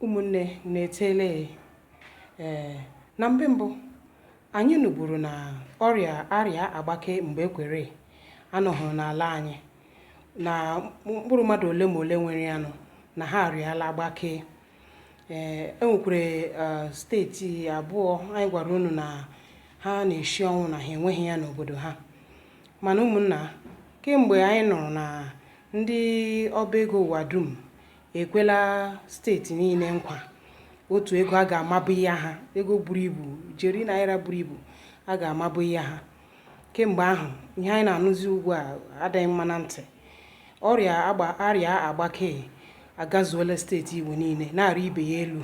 ụmụnne unu eteela ya ee na mbe mbụ anyị nụburu na ọrịa arịa agbake mgbe ekwere anọhụrụ n'ala anyị na mkpụrụ mmadụ ole ma ole nwere ya nụ na ha arịala agbake ee enwekwara eh, steeti abụọ anyị gwara unu na ha na-eshi ọnwụ na ha enweghị ya n'obodo ha mana ụmụnna kemgbe anyị nụrụ na Ndị ọba ego ụwa dum ekwela steeti niile nkwa otu ego a ga-amabụ ihe ha ego buru ibu ijeri naira buru ibu a ga-amabụ ihe ha kemgbe ahụ ihe anyị na-anụzi ugbu a adịghị mma na ntị ọrịa agba arịa agbake agazuola steeti igbo niile na-arị ibe ya elu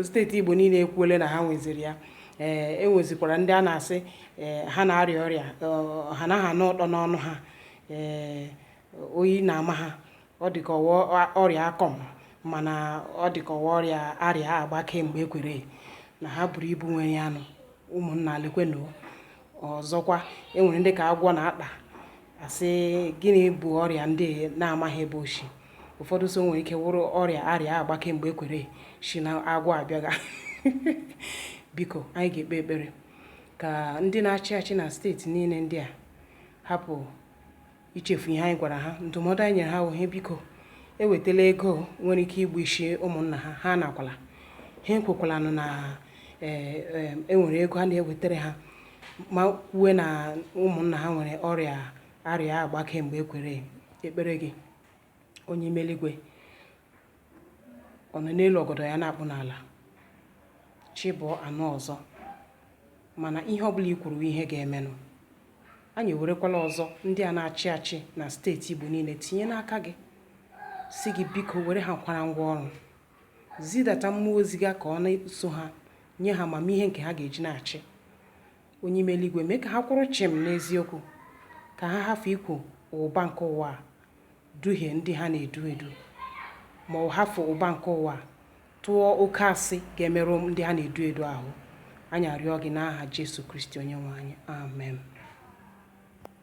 steeti igbo niile ekwuole na ha nweziri ya ee enwezikwara ndị a na-asị ee ha na-arịa ọrịa ọ- ha naghị anụ ụtọ n'ọnụ ha ee oyi na-ama ha ọ dị ka ọ wụ ọ- ọrịa akọm mana ọ dị ka ọ wụ ọrịa arịa agbake mgbe ekwere na ha buru ibu nwere ya nụ ụmụnna lekwenụ ọzọkwa enwere ndị ka agwọ na-akpa asị gịnị bụ ọrịa ndị na-amaghị ebe o shi ụfọdụ so nwere ike wụrụ ọrịa arịa agbake mgbe ekwere si na agwọ abịaga biko anyị ga-ekpe ekpere ka ndị na-achị achị na steeti niile ndị a hapụ ichefu ihe anyị gwara ha ndụmọdụ anyị nyere ha wụhe biko ewetala ego nwere ike igbu isi ụmụnna ha ha anakwala ha ekwekwalanụ na enwere e, e ego a na-ewetara ha ma kwue na ụmụnna ha nwere ọrịa arịa agbake mgbe ekwere ekpere gị onye ime eluigwe ọ nọ n'elu ọgọdọ ya na-akpụ n'ala chi bọọ a nụ ọzọ mana ihe ọbụla i kwuru ihe ga-emenụ anyị ewerekwala ọzọ ndị a na-achị achị na steeti Igbo niile tinye n'aka gị sị gị biko were ha kwara ngwa ọrụ zidata mmụọ ozi gị ka ọ na-eso ha nye ha amamihe nke ha ga-eji na-achị onye ime eluigwe mee ka ha kwụrụ chịm n'eziokwu ka ha hafụ ikwe ụba nke ụwa a duhie ndị ha na-edu edu, ma ọ hafụ ụba nke ụwa a, tụọ oke asị ga-emerụ ndị ha na-edu edu ahụ. Anyị arịọ gị n'aha Jesu Kristi Onyenwe anyị. Amen.